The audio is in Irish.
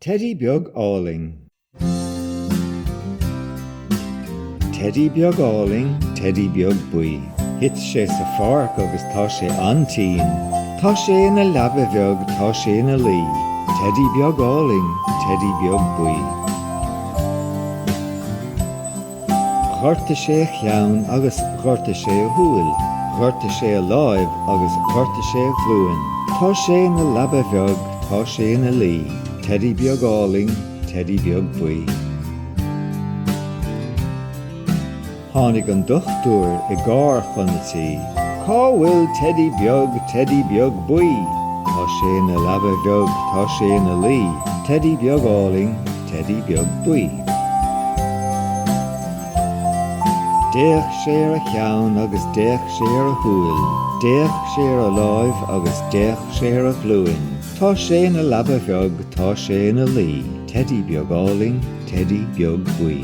Teidí beag álainn. Teidí beag álainn, teidí beag buí. Thit sé sa pháirc agus tá sé an-tinn. Tá sé ina leaba bheag, tá sé ina luí. Teidí beag álainn, teidí beag buí. Ghortaigh sé a cheann agus ghortaigh sé a shúil. Ghortaigh sé a láimh agus ghortaigh sé a ghlúin. Tá sé ina leaba bheag, tá sé ina luí. Teidí beag álainn, teidí beag buí. Tháinig an dochtúir i gcarr chun an tí. Cá bhfuil Teidí beag, Teidí beag buí? Tá sé ina leaba bheag, tá sé ina luí. Teidí beag álainn. teidí beag buí. D'fhéach sé ar a cheann agus d'fhéach sé ar a shúil, d'fhéach sé ar a láimh agus d'fhéach sé ar a ghlúin. Tá sé ina leaba bheag, tá sé ina luí, teidí beag álainn, teidí beag buí.